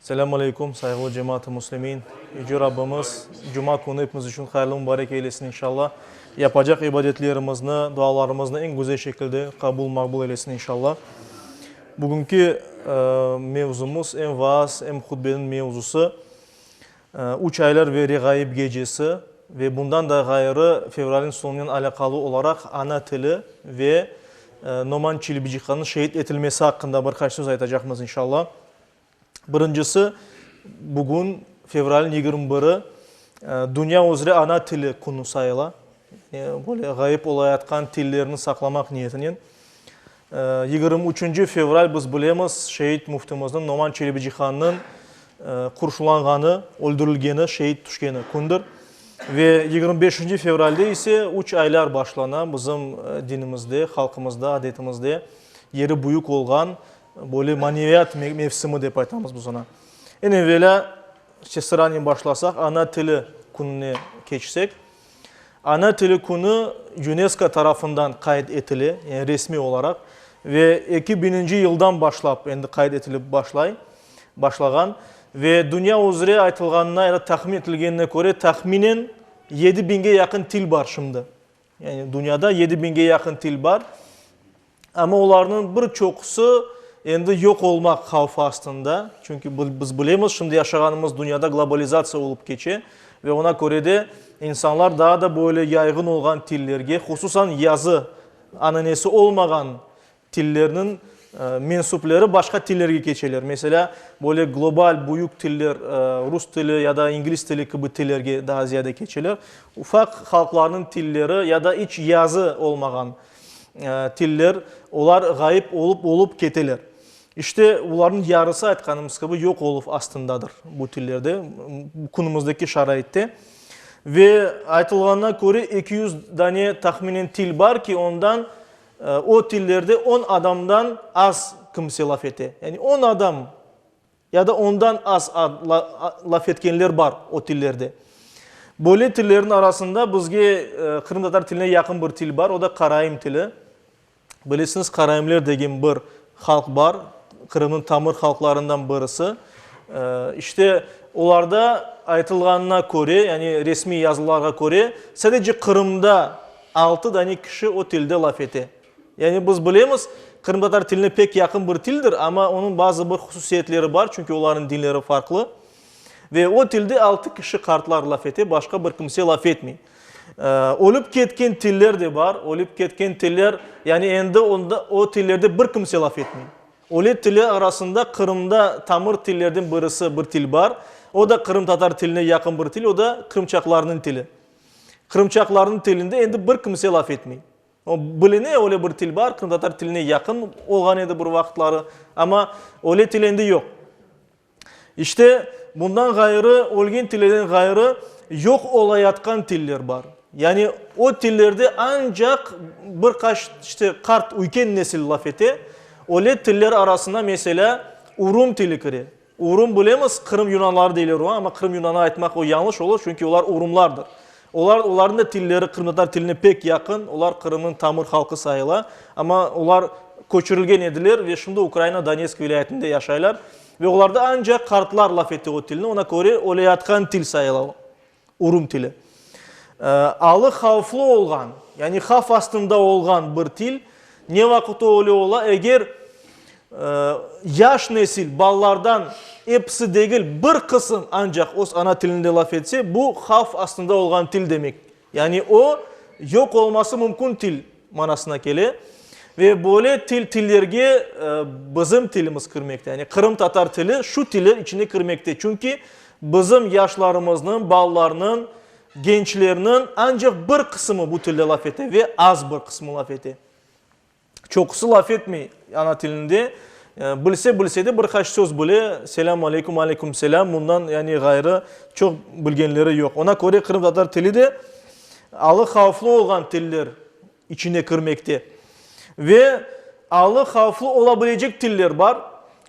Selâm aleyküm, sayğılı cemaat-ı muslimin! Yüce Rabbimiz Cuma künü epimiz içün hayırlı mubarek eylesin inşallah. Yapacaq ibadetlerimizni, dualarımıznı eñ güzel şekilde qabul, maqbul eylesin inşallah. Bugünki mevzumız, em vaaz, em hutbeniñ mevzusı, Üç aylar ve reğaib gecesi ve bundan da ğayrı fevralniñ soñunen alâqalı olaraq ana tili ve Noman Çilibicikanıñ şeet etilmesi aqqında bir qaç söz aytacaqmız, inşalla. Birincisi, bugün fevralniñ yigirmi biri Dünya üzre ana tili künü sayıla, böyle ğaib olayatqan tillerni saqlamaq niyetinen. Yigirmi üçünci fevral biz bilemiz, şeet müftimizniñ Noman Çelebicihan'nıñ qurşulanğanı, öldürilgeni, şeet tüşkeni kündir. Ve yigirmi beşinci fevralde ise üç aylar başlana bizim dinimizde, halqımızda, adetimizde yeri büyük olğan böyle maneviyat mevsimi dep aytamız biz oña. Eñ evelâ, işte sıranen başlasaq, ana tili kününe keçsek. Ana tili künü UNESCO tarafından qayd etile, yani resmiy olaraq, ve eki bininci yıldan başlap endi qayd etilip başlay, başlağan. Ve dünya üzre aytılğanına ya da tahmin etilgenine köre, tahminen yedi biñge yaqın til bar şimdi. Yani dünyada yedi biñge yaqın til bar. Amma olarnıñ bir çoqusı endi yoq olmaq havfı astında, çünki biz bilemiz, şimdi yaşağanımız dünyada globalizatsiya olıp keçe ve ona köre de insanlar daa da böyle yayğın olğan tillerge, hususan yazı ananesi olmağan tillerniñ mensüpleri başqa tillerge keçeler. Meselâ, böyle global, büyük tiller, rus tili ya da ingliz tili kibi tillerge daa ziyade keçeler. Ufaq halqlarnıñ tilleri ya da iç yazı olmağan, tiller, olar ğayıp olup-olup keteler. İşte, olarnıñ yarısı, aytqanımız kibi, yoq oluv astındadır bu tillerde, künümizdeki şaraitte. Ve aytılğanına köre, eki yüz dane tahminen til bar ki, ondan, o tillerde on adamdan az kimse laf ete. Yani on adam Ya da ondan az laf etkenler bar o tillerde. Böyle tillerin arasında bizge qırımtatar tiline yaqın bir til bar, o da karaim tili. Bilesiñiz, karaimler degen bir halq bar, Qırımnıñ tamır halqlarından birisi. İşte, olarda aytılğanına köre, yani resmiy yazılarğa köre, sadece Qırımda altı dane kişi o tilde laf ete. Yani biz bilemiz, qırımtatar tiline pek yaqın bir tildir, amma onıñ bazı bir hususiyetleri bar, çünki olarnıñ dinleri farqlı. Ve o tilde altı kişi qartlar laf ete, başqa bir kimse laf etmey. Ölip ketken tiller de bar, ölip ketken tiller, yani endi onda o tillerde bir kimse laf etmey. Öle tiller arasında Qırımda tamır tillerden birisi bir til bar, o da qırımtatar tiline yaqın bir til, o da qırımçaqlarnıñ tili. Qırımçaqlarnıñ tilinde endi bir kimse laf etmey. Biline, öyle bir til bar, qırımtatar tiline yaqın olğan edi bir vaqıtları, amma öyle til endi yoq. İşte, bundan ğayrı, ölgen tillerden ğayrı, yoq olayatqan tiller bar. Yani, o tillerde ancaq bir qaç, işte, qart, üyken nesil laf ete. Öyle tiller arasına, meselâ, urum tili kire. Urum bilemiz, Qırım yunanları deyler oña, amma Qırım yunanı aytmaq o yañlış olur, çünki olar urumlardır. Olar, olarnıñ da tilleri qırımtatar tiline pek yaqın, olar Qırımnıñ tamır halqı sayıla, amma olar köçürilgen ediler ve şimdi Ukraina Donetsk vilâyetinde yaşaylar. Ve olarda ancaq qartlar laf ete o tilni, ona köre öyleyatqan til sayıla o. Urum tili. Alı havflı olğan, yani havf astında olğan bir til. Ne vaqıt öyle ola? Eger yaş nesil balalardan episi degil, bir qısım ancaq öz ana tilinde laf etse, bu havf astında olğan til demek. Yani o, yoq olması mümkün til manasına kele ve böyle til, tillerge bizim tilimiz kirmekte, yani qırımtatar tili şu tiller içine kirmekte, çünki bizim yaşlarımıznıñ, balalarnıñ, gençlerniñ ancaq bir qısımı bu tilde laf ete ve az bir qısmı laf ete. Çoqusı laf etmey ana tilinde, bilse, bilse de bir qaç söz bile, selâm aleyküm, aleyküm selâm, bundan yani ğayrı çoq bilgenleri yoq. Ona köre qırımtatar tili de alı havflı olğan tiller içine kirmekte. Ve alı havflı ola bilecek tiller bar.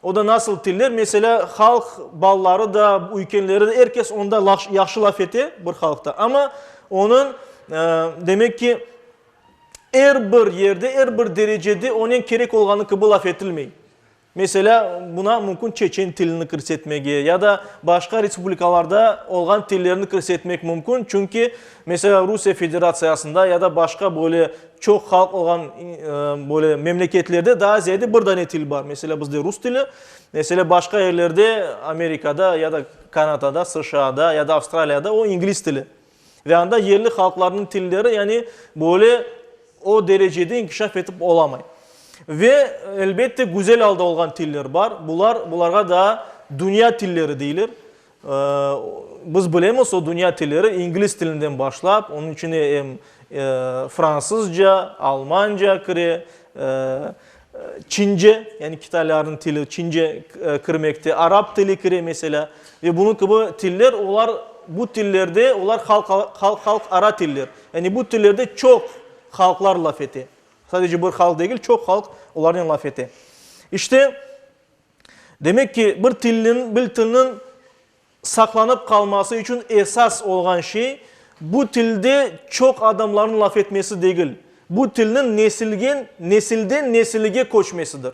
O da nasıl tiller? Meselâ, halq balaları da, üykenleri de, er kes onda yahşı laf ete, bir halqta. Amma onıñ, demek ki, er bir yerde, er bir derecede onen kerek olğanı kibi laf etilmey. Meselâ, buna mümkün çeçen tilini kirsetmege ya da başqa respublikalarda olğan tillerni kirsetmek mümkün, çünki, meselâ, Rusiye Federatsiyasında ya da başqa böyle çoq halq olğan böyle memleketlerde daa ziyade bir dane til bar. Meselâ, bizde rus tili, meselâ, başqa yerlerde, Amerikada ya da Kanadada, SŞAda ya da Avstraliyada o, ingliz tili. Ve anda yerli halqlarnıñ tilleri, yani, böyle o derecede inkişaf etip olamay. Ve, elbette, güzel alda olğan tiller bar. Bular, bularğa daa dünya tilleri deyler. Biz bilemiz, o dünya tilleri ingliz tilinden başlap, onıñ içine em fransızca, almanca kire, Çince, yani kitaylarnıñ tili Çince kirmekte, arap tili kire meselâ ve bunıñ kibi tiller, olar bu tillerde olar halqara tiller. Yani bu tillerde çoq halqlar laf ete. Sadece bir halq degil, çoq halq olarnen laf ete. İşte, demek ki, bir tilniñ, bir tilniñ Saqlanıp qalması içün esas olğan şey, bu tilde çoq adamlarnıñ laf etmesi degil, bu tilniñ nesilgen, nesilden nesilige köçmesidir.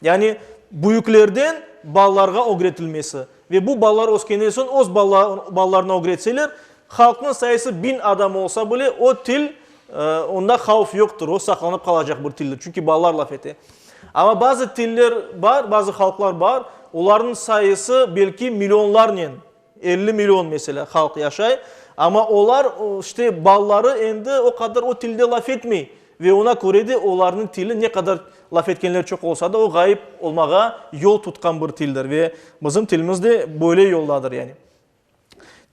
Yani büyüklerden balalarğa ögretilmesi. Ve bu balalar öskenden soñ öz balalarına ögretseler, halqnıñ sayısı biñ adam olsa bile, o til, Onda havf yoqtır, o saqlanıp qalacaq bir tildir, çünki balalar laf ete. Amma bazı tiller bar, bazı halqlar bar, olarnıñ sayısı belki millionlarnen, elli million meselâ halq yaşay, amma olar işte balaları endi o qadar o tilde laf etmey ve ona köre de olarnıñ tili ne qadar laf etkenler çoq olsa da o ğayıp olmağa yol tutqan bir tildir ve bizim tilimiz de böyle yoldadır yani.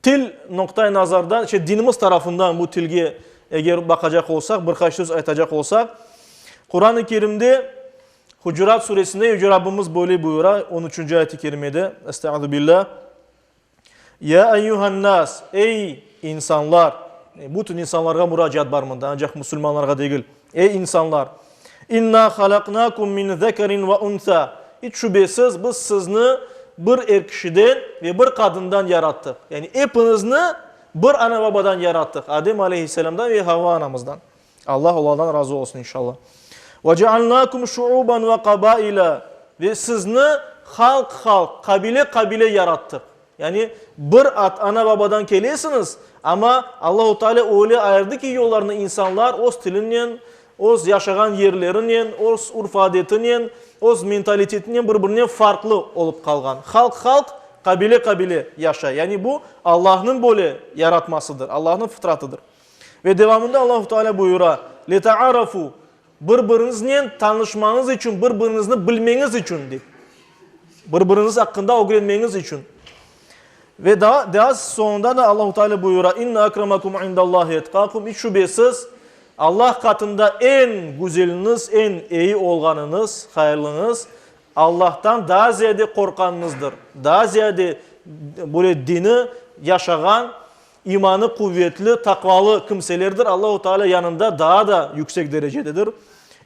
Til noqtay nazardan, işte, dinimiz tarafından bu tilge eger baqacaq olsaq, bir qaç söz aytacaq olsaq, Quran-ı Kerimde Hucurat Suresinde Yüce Rabbimiz böyle buyura, on üçünci ayet-i kerimede, Estağuzubillah, Ya eyyuhannas, ey insanlar, bütün insanlarğa muracaat bar mında, ancaq musulmanlarğa degil. Ey insanlar! İnna halaqnakum min zekerin ve unsa, iç şübesiz, biz sizni bir er kişiden ve bir qadından yarattıq. Yani epiñizni bir ana-babadan yarattıq, Adem aleyhisselamdan ve Havva anamızdan, Allah olardan razı olsun, inşalla. Ve cealnakum şuuban ve qabaila, ve sizni halq-halq, qabile-qabile yarattıq. Yani, bir at ana-babadan kelesiñiz, amma Allahu Teala öyle ayırdı ki, yollarını insanlar öz tilinen, öz yaşağan yerlerinen, öz urf-adetinen, öz mentalitetinen bir-birinen farqlı olıp qalğan. Halq halq, qabile qabile yaşay. Yani, bu, Allahnıñ böyle yaratmasıdır, Allahnıñ fıtratıdır. Ve devamında Allahu Teala buyura, Leta'arafu. Bir-biriñiznen tanışmañız içün, bir-biriñizni bilmeñiz içün, dep, bir-biriñiz aqqında ögrenmeñiz içün. Ve daa, daa soñunda da Allahu Teala buyura, İnne akramakum indallahi etkakum, iç şübesiz, Allah qatında eñ güzeliniz, eñ eyi olğanıñız, hayırlıñız, Allahtan daa ziyade qorqanıñızdır, daa ziyade böyle dini yaşağan, İmanı quvetli, taqvalı kimselerdir Allahu Teala yanında daa da yüksek derecededir.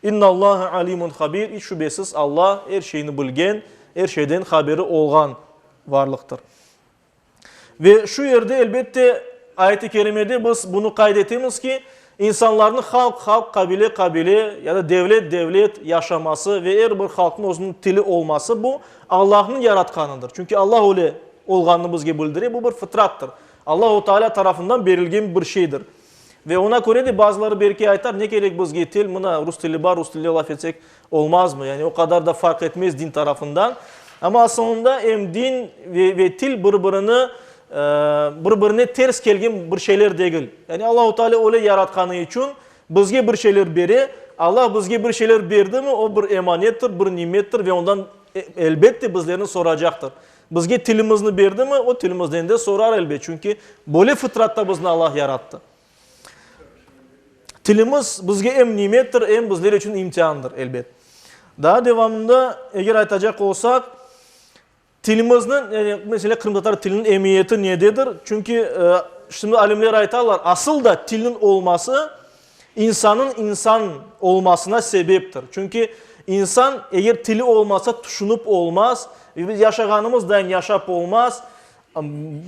İnnallâhe alimun habir, iç şübesiz Alla er şeyni bilgen, er şeyden haberi olğan varlıqtır. Ve şu yerde, elbette, ayet-i kerimede biz bunı qayd etemiz ki, İnsanlarnıñ halq, halq, qabile, qabile, ya da devlet, devlet, yaşaması ve er bir halqnıñ özüniñ tili olması bu, Allahnıñ yaratqanıdır. Çünki Allah öyle olğanını bizge bildire, bu bir fıtrattır. Allahu Taalâ tarafından berilgen bir şeydir. Ve ona köre de bazıları belki aytar, ne kerek bizge til, mına rus tili bar, rus tilinde laf etsek, Olmazmı? Yani o qadar da farq etmez din tarafından. Amma asılında em din ve ve til bir birini bir birine ters kelgen bir şeyler degil. Yani Allahu Teala öyle yaratqanı içün bizge bir şeyler bere. Allah bizge bir şeyler berdimi, o bir emanettir, bir nimettir ve ondan elbette bizlerni soracaqtır. Bizge tilimizni berdimi, o tilimizden de sorar elbet. Çünki böyle fıtratta bizni Allah yarattı. Tilimiz bizge em nimettir, em bizler içün imtiandır, elbet. Daa devamında, eger aytacaq olsaq, tilimizniñ, yani, mesele, qırımtatar tiliniñ emiyeti nededir? Çünki, şimdi alimler aytalar, asıl da tilniñ olması insannıñ insan olmasına sebeptir. Çünki, insan, eger tili olmasa, tüşünip olmaz, yaşağanımız dayın yaşap olmaz,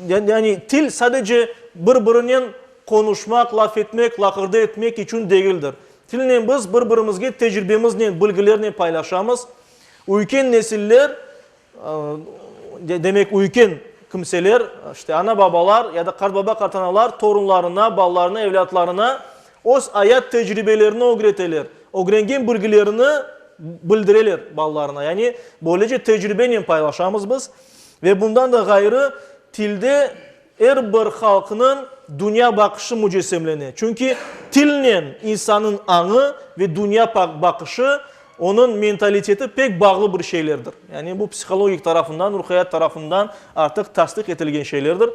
Yani, til sadece bir-birinen qonuşmaq, laf etmek, laqırdı etmek içün degildir. Tilnen biz bir-birimizge tecribemiznen, bilgilernen paylaşamız. Üyken nesiller, demek, üyken kimseler, işte, ana-babalar ya da qartbaba-qartanalar torunlarına, balalarına, evlâtlarına öz ayat tecribelerini ögreteler, ögrengen bilgilerini bildireler balalarına. Yani, böylece tecribenen paylaşamız biz. Ve bundan da ğayrı, tilde er bir halqnıñ dünya baqışı mücessemlene. Çünki tilnen insannıñ añı ve dünya baqışı, onıñ mentaliteti pek bağlı bir şeylerdir. Yani bu psihologik tarafından, ruhiyat tarafından artıq tasdiq etilgen şeylerdir.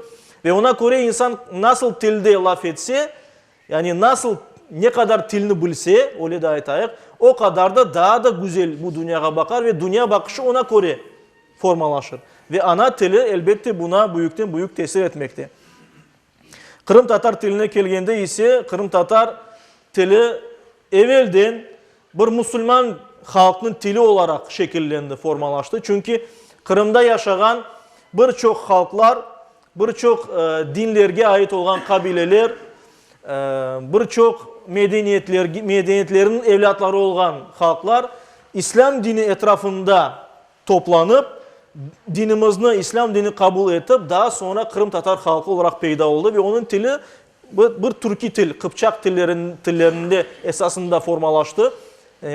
Ve ona köre insan nasıl tilde laf etse, Yani nasıl, ne qadar tilni bilse, öyle de aytayıq, o qadar da daa da güzel bu dünyağa baqar ve dünya baqışı ona köre formalaşır. Ve ana tili, elbette, buna büyükten büyük tesir etmekte. Qırımtatar tiline kelgende ise, qırımtatar tili evelden Bir musulman halqnıñ tili olaraq şekillendi, formalaştı. Çünki Qırımda yaşağan bir çoq halqlar, bir çoq dinlerge ait olğan qabileler, bir çoq medeniyetlerniñ evlâtları olğan halqlar İslâm dini etrafında toplanıp, dinimizni, İslâm dinini qabul etip, daa soñra qırımtatar halqı olaraq peyda oldı ve onıñ tili Bu bir türkiy til, qıpçaq tillerinde esasında formalaştı,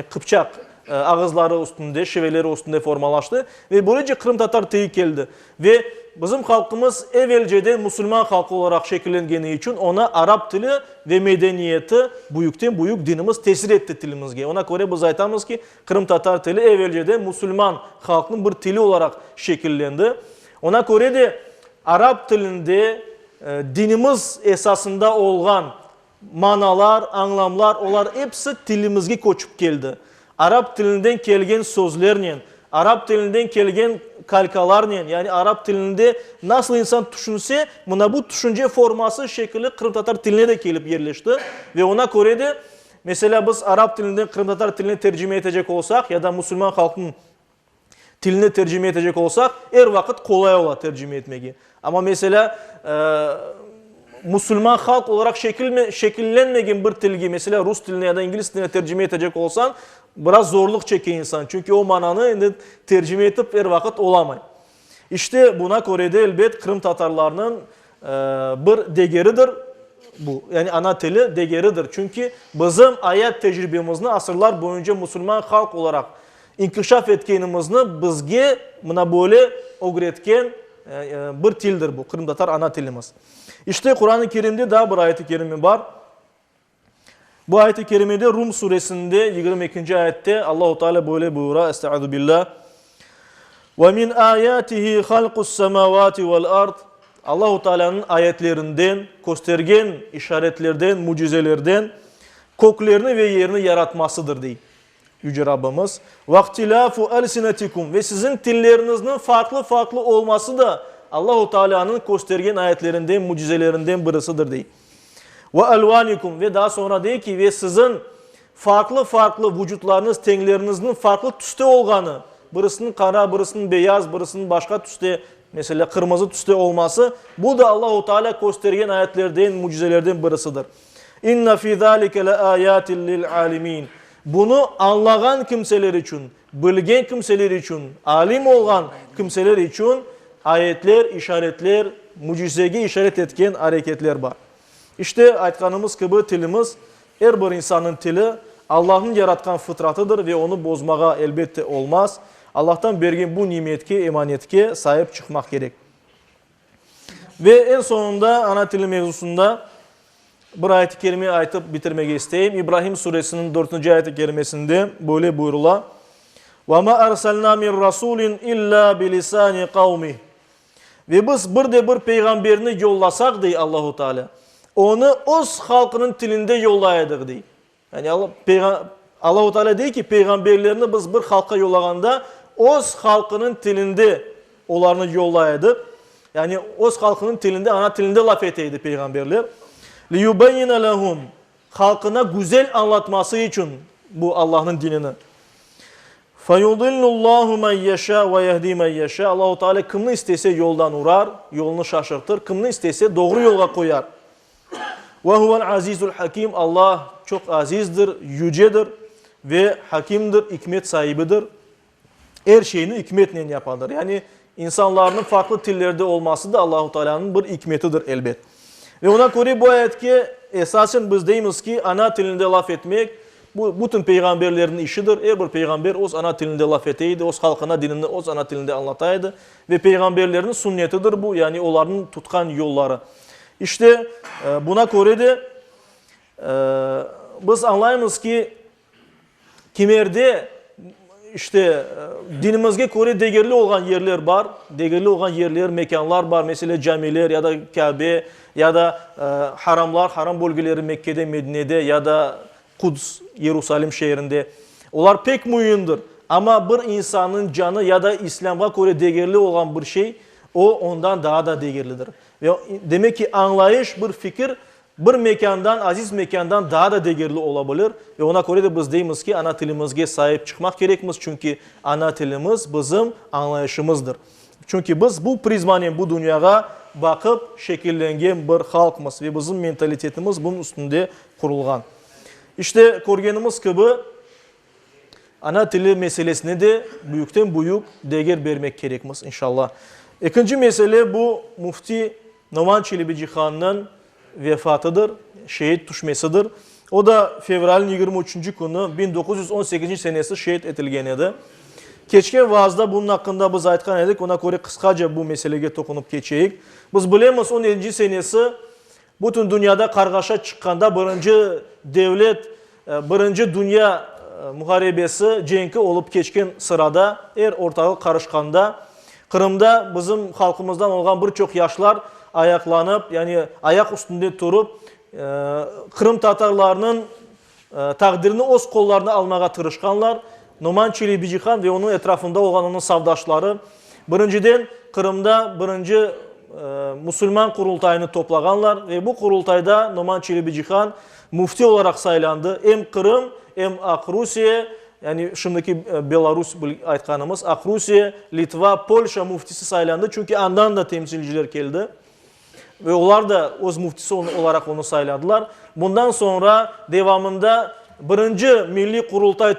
qıpçaq ağızları üstünde, şiveleri üstünde formalaştı ve böylece qırımtatar tiyi keldi. Ve bizim halqımız evelceden musulman halqı olaraq şekillengeni içün oña arap tili ve medeniyeti, büyükten büyük dinimiz tesir etti tilimizge. Oña köre biz aytamız ki, qırımtatar tili evelceden musulman halqnıñ bir tili olaraq şekillendi. Oña köre de, arap tilinde dinimiz esasında olğan manalar, añlamlar, olar episi tilimizge köçip keldi. Arap tilinden kelgen sözlernen, arap tilinden kelgen kalkalarnen, yani arap tilinde nasıl insan tüşünse, mına bu tüşünce forması, şekili qırımtatar tiline de kelip yerleşti. Ve oña köre de, meselâ, biz arap tilinden qırımtatar tiline tercime etecek olsaq ya da musulman halqnıñ Tilni tercime etecek olsaq, er vaqıt qolay ola tercime etmegi. Amma, meselâ, musulman halq olaraq şekillenmegen bir tilge, meselâ, rus tiline ya da ingliz tiline tercime etecek olsañ, biraz zorluq çeke insan. Çünki o mananı endi tercime etip er vaqıt olamay. İşte, buna köre de, elbet, qırımtatarlarnıñ bir degeridir bu, yani ana tili degeridir. Çünki bizim ayat tecribemizni asırlar boyunca musulman halq olaraq inkişaf etkenimizni bizge mına böyle ögretken bir tildir bu, qırımtatar ana tilimiz. İşte, Quran-ı Kerimde daa bir ayet-i kerime bar. Bu ayet-i kerimede Rum suresinde yigirmi ekinci ayette Allahu Teala böyle buyura, Estağuzubillah. Ve min ayatihi halqus semavati vel ard. Allahu Teala'nın ayetlerinden, köstergen işaretlerden, mucizelerden köklerni ve yerni yaratmasıdır, dey. Yüce Rabbimiz, Vahtilâfu elsinetikum ve siziñ tillerniñizniñ farqlı-farqlı olması da Allahu Taalânıñ köstergen ayetlerinden, mücizelerinden birisidir, dey. Ve elvanikum ve daa soñra dey ki, ve siziñ farqlı-farqlı vucutlarıñız, tengleriñizniñ farqlı tüste olğanı, birisiniñ qara, birisiniñ beyaz, birisiniñ başqa tüste, meselâ, qırmızı tüste olması, bu da Allahu Taalâ köstergen ayetlerden, mücizelerden birisidir. İnne fi zâlike leâyâtin lil'âlimîn. Bunı añlağan kimseler içün, bilgen kimseler içün, alim olğan kimseler içün ayetler, işaretler, mücizege işaret etken areketler bar. İşte, aytqanımız kibi, tilimiz, er bir insannıñ tili, Allahnıñ yaratqan fıtratıdır ve onı bozmağa, elbette, olmaz. Allahtan bergen bu nimetke, emanetke saip çıqmaq kerek. Ve eñ soñunda ana tili mevzusında bir ayet-i kerime aytıp bitirmege isteyim. İbrahim Suresiniñ dörtünci ayet-i kerimesinde böyle buyurula, Ve ma arsalna min rasulin illa bi lisani qavmih. Ve biz bir de bir peyğamberni yollasaq, dey Allahu Teala, onı öz halqınıñ tilinde yollay edik, dey. Yani Alla, Allahu Teala dey ki, peyğamberlerni biz bir halqqa yollağanda öz halqınıñ tilinde olarnı yollay edik. Yani öz halqınıñ tilinde, ana tilinde laf ete edi peyğamberler. Liyubeyyine lehum. Halqına güzel añlatması içün bu Allahnıñ dinini. Feyudillullahu men yeşâ ve yehdi men yeşâ. Allahu Teala kimni istese yoldan urar, yolunu şaşırtır, kimni istese doğru yolğa qoyar. Ve huvel azizul hakim, Alla çoq azizdir, yücedir ve hakimdir, ikmet saibidir. Er şeyni ikmetnen yapadır. Yani insanlarnıñ farqlı tillerde olması da Allahu Teala'nıñ bir ikmetidir, elbet. Ve oña köre bu ayetke esasen biz deymiz ki, ana tilinde laf etmek, bu bütün peyğamberlerniñ işidir. Er bir peyğamber öz ana tilinde laf ete edi, öz halqına dinini öz ana tilinde añlata edi. Ve peyğamberlerniñ sünnetidir bu, yani olarnıñ tutqan yolları. İşte, buna köre de, biz añlaymız ki, kimerde, işte, dinimizge köre degerli olğan yerler bar, degerli olğan yerler, mekânlar bar, mesele, camiler ya da Kâbe, ya da haramlar, haram bölgeleri Mekkede, Medinede, ya da Quds, Yerusalim şeerinde, olar pek müimdir, amma bir insannıñ canı ya da İslâmğa köre degerli olğan bir şey, o, ondan daa da degerlidir. Ve, demek ki, añlayış, bir fikir bir mekândan, aziz mekândan daa da degerli ola bilir. Ve ona köre de biz deymiz ki, ana tilimizge saip çıqmaq kerekmiz, çünki ana tilimiz bizim añlayışımızdır. Çünki biz bu prizmanen bu dünyağa baqıp şekillengen bir halqmız ve bizim mentalitetimiz bunıñ üstünde qurulğan. İşte, körgenimiz kibi, ana tili meselesine de büyükten büyük deger bermek kerekmiz, inşallah. Ekinci mesele, bu, müfti Noman Çelebicihannıñ vefatıdır, şeet tüşmesidir. O da fevralniñ yigirmi üçünci künü biñ doquz yüz on sekizinci senesi şeet etilgen edi. Keçken vaazda bunıñ aqqında biz aytqan edik, oña köre qısqaca bu meselege toqunup keçeyik. Biz bilemiz, on yedinci senesi bütün dünyada qarğaşa çıqqanda birinci devlet, Birinci dünya muharebesi cenki olıp keçken sırada, er ortağıq qarışqanda, Qırımda bizim halqımızdan olğan bir çoq yaşlar ayaqlanıp, yani ayaq üstünde turıp, qırımtatarlarnıñ taqdirini öz qollarına almağa tırışqanlar. Noman Çelebicihan ve onıñ etrafında olğan onıñ savdaşları Birinciden, Qırımda birinci musulman Qurultayını toplağanlar ve bu Qurultayda Noman Çelebicihan müfti olaraq saylandı, em Qırım, em Aq Rusiye, yani şimdiki Belarus aytqanımız, Aq Rusiye, Litva, Polşa müftisi saylandı, çünki andan da temsilciler keldi. Ve olar da öz müftisi olaraq onı sayladılar. Bundan soñra devamında birinci Milliy Qurultay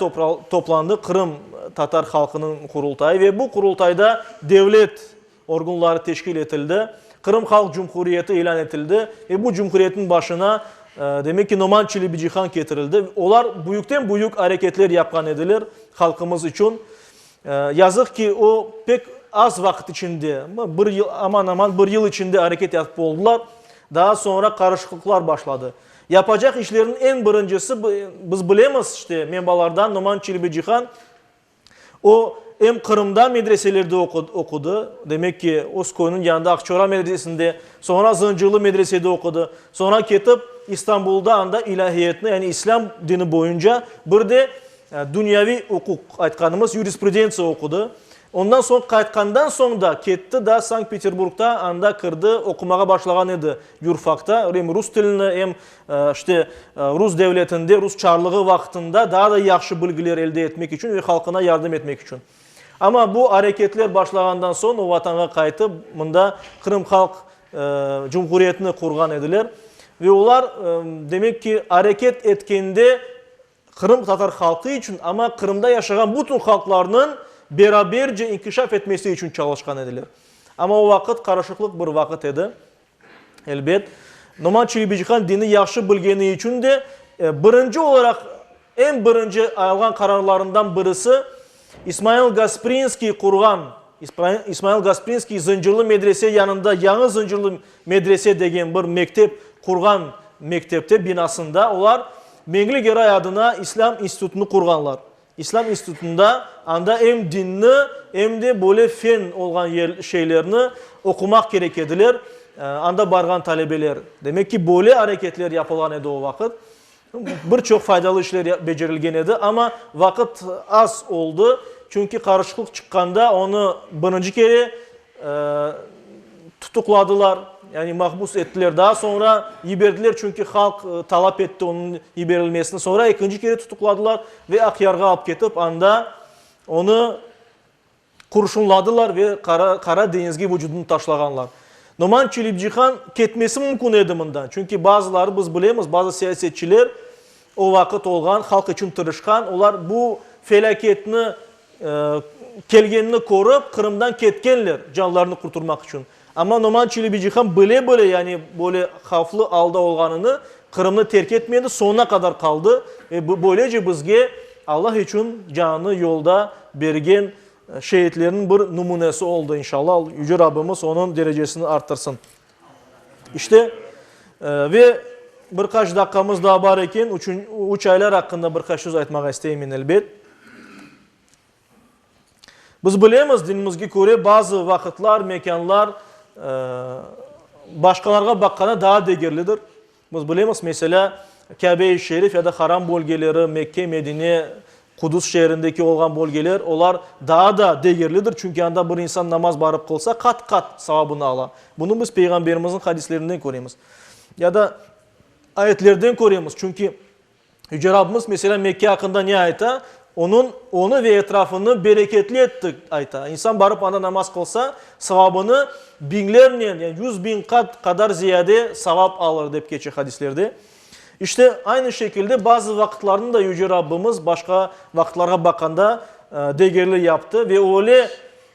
toplandı, Qırım tatar halqınıñ Qurultayı, ve bu Qurultayda devlet orgunları teşkil etildi, Qırım Halq Cumhuriyeti ilân etildi ve bu cumhuriyetniñ başına, demek ki, Noman Çelebicihan ketirildi. Olar büyükten-büyük areketler yapqan ediler halqımız içün. Yazıq ki, o, pek az vaqıt içinde, bir yıl, aman-aman bir yıl içinde areket yapıp oldılar, daa soñra qarışıqlıqlar başladı. Yapacaq işleriniñ eñ birincisi, biz bilemiz, işte, menbalardan, Noman Çelebicihan, o, em Qırımda medreselerde oqudı, demek ki, öz köyüniñ yanında Aqçora medresesinde, soñra Zıncırlı medresede oqudı, soñra ketip İstanbulda anda ilâhiyatnı, yani islâm dini boyunca, bir de Dünyaviy uquq, aytqanımız yurisprudentsiya oqudı. Ondan soñ qaytqandan soñ da ketti da Sankt-Peterburgda, anda kirdi, oqumağa başlağan edi yurfakta, rem rus tilini, em işte rus devletinde, rus çarlığı vaqtında daa da yahşı bilgiler elde etmek içün ve halqına yardım etmek içün. Amma bu areketler başlağandan soñ o Vatanğa qaytıp, mında Qırım Halq Cumhuriyetini qurğan ediler. Ve olar, demek ki, areket etkende, Qırım tatar halqı içün, amma Qırımda yaşağan bütün halqlarnıñ beraberce inkişaf etmesi içün çalışqan ediler. Amma o vaqıt qarışıqlıq bir vaqıt edi, elbet. Noman Çelebicihan dini yahşı bilgeni içün de, birinci olaraq, eñ birinci alğan qararlarından birisi, İsmail Gasprinskiy qurğan İsmail Gasprinskiy Zıncırlı medrese yanında Yañı Zıncırlı medrese degen bir mektep qurğan mektepte, binasında olar Meñli Geray adına İslâm institutını qurğanlar. İslâm institutında anda em dinni, em de böyle fen olğan şeylerni oqumaq kerek ediler, anda barğan talebeler. Demek ki, böyle areketler yapılğan edi o vaqıt. Bir çoq faydalı işler becerilgen edi, amma vaqıt az oldı, çünki qarışıqlıq çıqqanda onı birinci kere tutuqladılar, yani mahbus ettiler, daa soñra yiberdiler, çünki halq talap etti onıñ yiberilmesini, soñra ekinci kere tutuqladılar ve Aqyarğa alıp ketip, anda onı Qurşunladılar ve Qara Qara deñizge vucudını taşlağanlar. Noman Çelibcihan ketmesi mümkün edi mından, çünki bazıları biz bilemiz, bazı siyasetçiler o vaqıt olğan, halq içün tırışqan, olar bu felâketni, kelgenini körip, Qırımdan ketkenler, canlarını qurturmaq içün. Amma Noman Çelebici ham bile-bile, yani böyle havflı alda olğanını, Qırımnı terk etmedi, soñuna qadar qaldı ve böylece bizge Allah içün canını yolda bergen şeitlerniñ bir numunesi oldı. İnşallah, Yüce Rabbimiz onıñ derecesini arttırsın. İşte, ve bir qaç daqqamız daa bar eken, üç aylar aqqında bir qaç söz aytmağa isteymen, elbet. Biz bilemiz, dinimizge köre bazı vaqıtlar, mekânlar başqalarğa baqqanda daa degerlidir. Biz bilemiz, meselâ, Kâbe-i Şerif ya da Haram bölgeleri, Mekke, Medine, Qudus şeerindeki olğan bölgeler, olar daa da degerlidir, çünki anda bir insan namaz barıp qılsa, qat-qat savabını ala. Bunı biz Peyğamberimizniñ hadislerinden köremiz. Ya da ayetlerden köremiz, çünki Yüce Rabbimiz, meselân, Mekke aqqında ne ayta? Onıñ, onı ve etrafını bereketli ettik, ayta. İnsan barıp anda namaz qılsa, savabını biñlernen, yani yüz biñ qat qadar ziyade savap alır, dep keçe hadislerde. İşte, aynı şekilde bazı vaqıtlarnı da Yüce Rabbimiz başqa vaqıtlarğa baqanda degerli yaptı ve öyle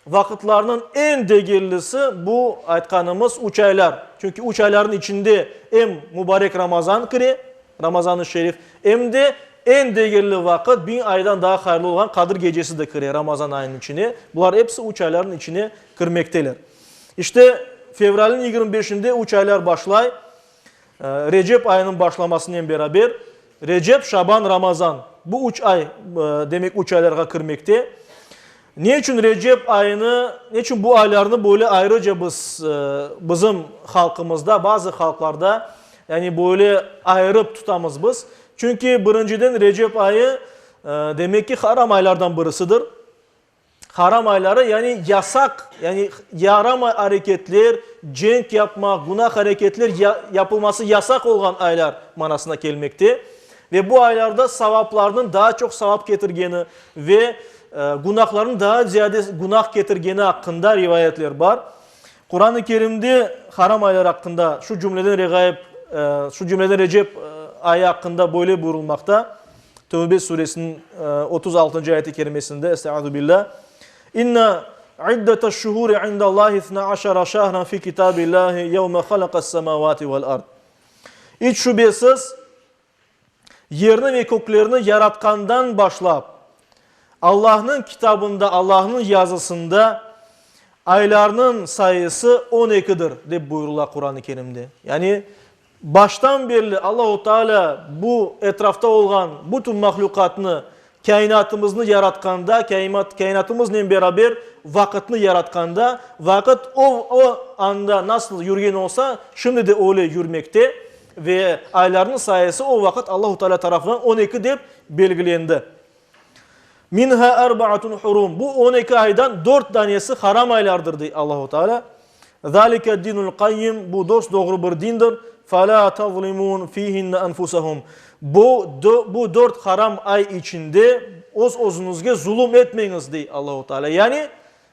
Vaqıtlarnıñ eñ degerlisi, bu aytqanımız üç aylar. Çünki üç aylarnıñ içinde em Mubarek Ramazan kire, Ramazan-ı Şerif, em de eñ degerli vaqıt, biñ aydan daa hayırlı olğan Qadir Gecesi de kire Ramazan ayınıñ içine. Bular episi üç aylarnıñ içine kirmekteler. İşte, fevralniñ yigirmi beşinde üç aylar başlay. Recep ayınıñ başlamasınen beraber, Recep, Şaban, Ramazan, bu üç ay, demek, üç aylarğa kirmekte. Ne içün Recep ayını, ne içün bu aylarnı böyle ayrıca biz, bizim halqımızda, bazı halqlarda, yani böyle ayırıp tutamız biz? Çünki, birinciden, Recep ayı, demek ki, haram aylardan birisidir. Haram ayları, yani yasaq, yani yaramay areketler, cenk yapmaq, günah areketler ya, yapılması yasaq olğan aylar manasına kelmekte. Ve bu aylarda savaplarnıñ daa çoq savap ketirgeni ve e, günahlarnıñ daa ziyade günah ketirgeni haqqında rivayetler bar. Kur'an-ı Kerimde haram aylar haqqında şu cümleden regaib, e, şu cümleden Recep e, ayı haqqında böyle buyurulmaqta. Tövbe suresiniñ otuz altıncı ayet-i kerimesinde, Estaizu billâ, İnna iddetaş şuhuri indallahi itna aşara şahran fi kitabillahi yevme halaqas semavati vel ard. İç şübesiz, yerni ve köklerni yaratqandan başlap, Allahnıñ kitabında, Allahnıñ yazısında aylarnıñ sayısı on ekidir, dep buyurıla Quran-ı Kerimde. Yani, Baştan berli Allahu Taalâ bu etrafta olğan bütün mahluqatnı, kainatımıznı yaratqanda, kainatımıznen beraber vaqıtnı yaratqanda, vaqıt o o anda nasıl yürgen olsa, şimdi de öyle yürmekte ve aylarnıñ sayısı o vaqıt Allahu Taalâ tarafından on eki dep belgilendi. Minhâ erbâatun hurum, bu on eki aydan dört danesi haram aylardır, dey Allahu Taalâ. Zâlike dinul qayyim, bu dost-doğru bir dindir, felâ tezlimûn fîhinne enfusehum, bu, bu dört haram ay içinde öz-özüñizge zulum etmeñiz, dey Allahu Teala. Yani,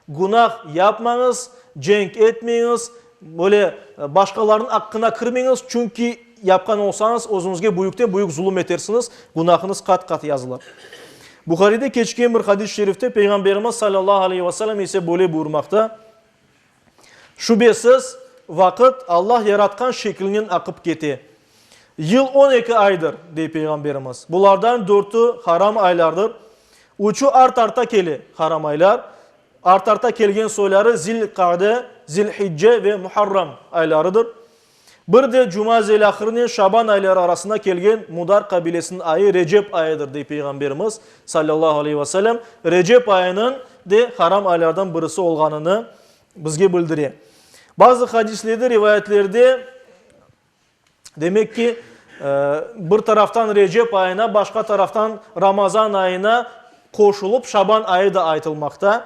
günah yapmañız, cenk etmeñiz, böyle başqalarnıñ aqqına kirmeñiz, çünki yapqan olsañız, özüñizge büyükten-büyük zulum etersiñiz, günahıñız qat-qat yazılar. Buharide keçken bir hadis-i şerifte Peyğamberimiz sallallahu aleyhi ve sellem ise böyle buyurmaqta, Şübesiz, vaqıt Allah yaratqan şekilnen aqıp kete. Yıl on eki aydır, dey Peyğamberimiz. Bulardan dörtü haram aylardır. Üçü art-arta kele, haram aylar. Art-arta kelgen soyları Zil-Qa'de, Zil-Hicce ve Muharram aylarıdır. Bir de Cuma zelâhırnen Şaban ayları arasına kelgen Mudar qabilesiniñ ayı Recep ayıdır, dey Peyğamberimiz, sallallahu aleyhi ve sellem, Recep ayınıñ de haram aylardan birisi olğanını bizge bildire. Bazı hadislerde, rivayetlerde, demek ki, bir taraftan Recep ayına, başqa taraftan Ramazan ayına qoşulıp Şaban ayı da aytılmaqta.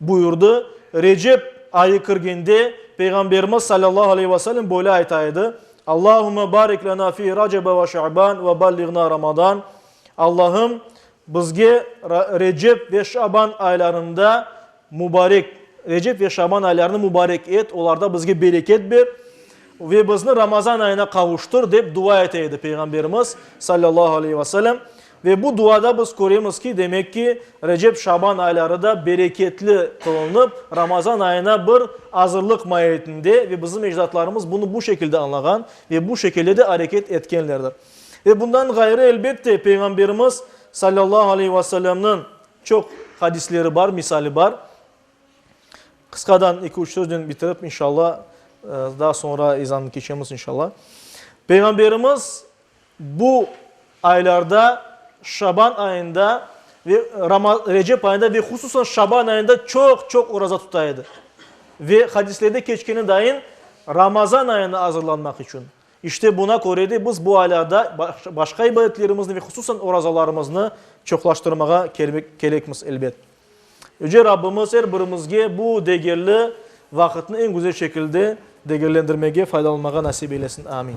Buyurdı, Recep ayı kirgende, Peyğamberimiz salâllahu aleyhi ve selem böyle ayta edi, Allahümme barik lena fi Racebe ve Şaban ve balliğna Ramadan, Allahım, bizge Recep ve Şaban aylarında mubarek, Recep ve Şaban aylarını mubarek et, olarda bizge bereket ber ve bizni Ramazan ayına qavuştır, dep dua ete edi Peyğamberimiz salâllahu aleyhi ve selem. Ve bu duada biz köremiz ki, demek ki, Recep-Şaban ayları da bereketli qılınıp, Ramazan ayına bir azırlıq maiyetinde ve bizim ecdatlarımız bunı bu şekilde añlağan ve bu şekilde de areket etkenlerdir. Ve bundan ğayrı, elbette, Peyğamberimiz, salâllahu aleyh ve sellemniñ çoq hadisleri bar, misali bar. Qısqadan eki-üç söznen bitirip, inşalla, daa soñra ezanı keçemiz, inşalla. Peyğamberimiz, Bu aylarda, Şaban ayında ve Rama, Recep ayında ve hususan Şaban ayında çoq-çoq oraza tuta edi. Ve hadislerde keçkeni dayın, Ramazan ayına azırlanmaq içün. İşte buna köre de biz bu aylarda başqa ibadetlerimizni ve hususan orazalarımıznı çoqlaştırmağa kelmek kerekmiz, elbet. Yüce Rabbimiz er birimizge bu degerli vaqıtnı eñ güzel şekilde degerlendirmege, faydalanmağa nasip eylesin. Amin.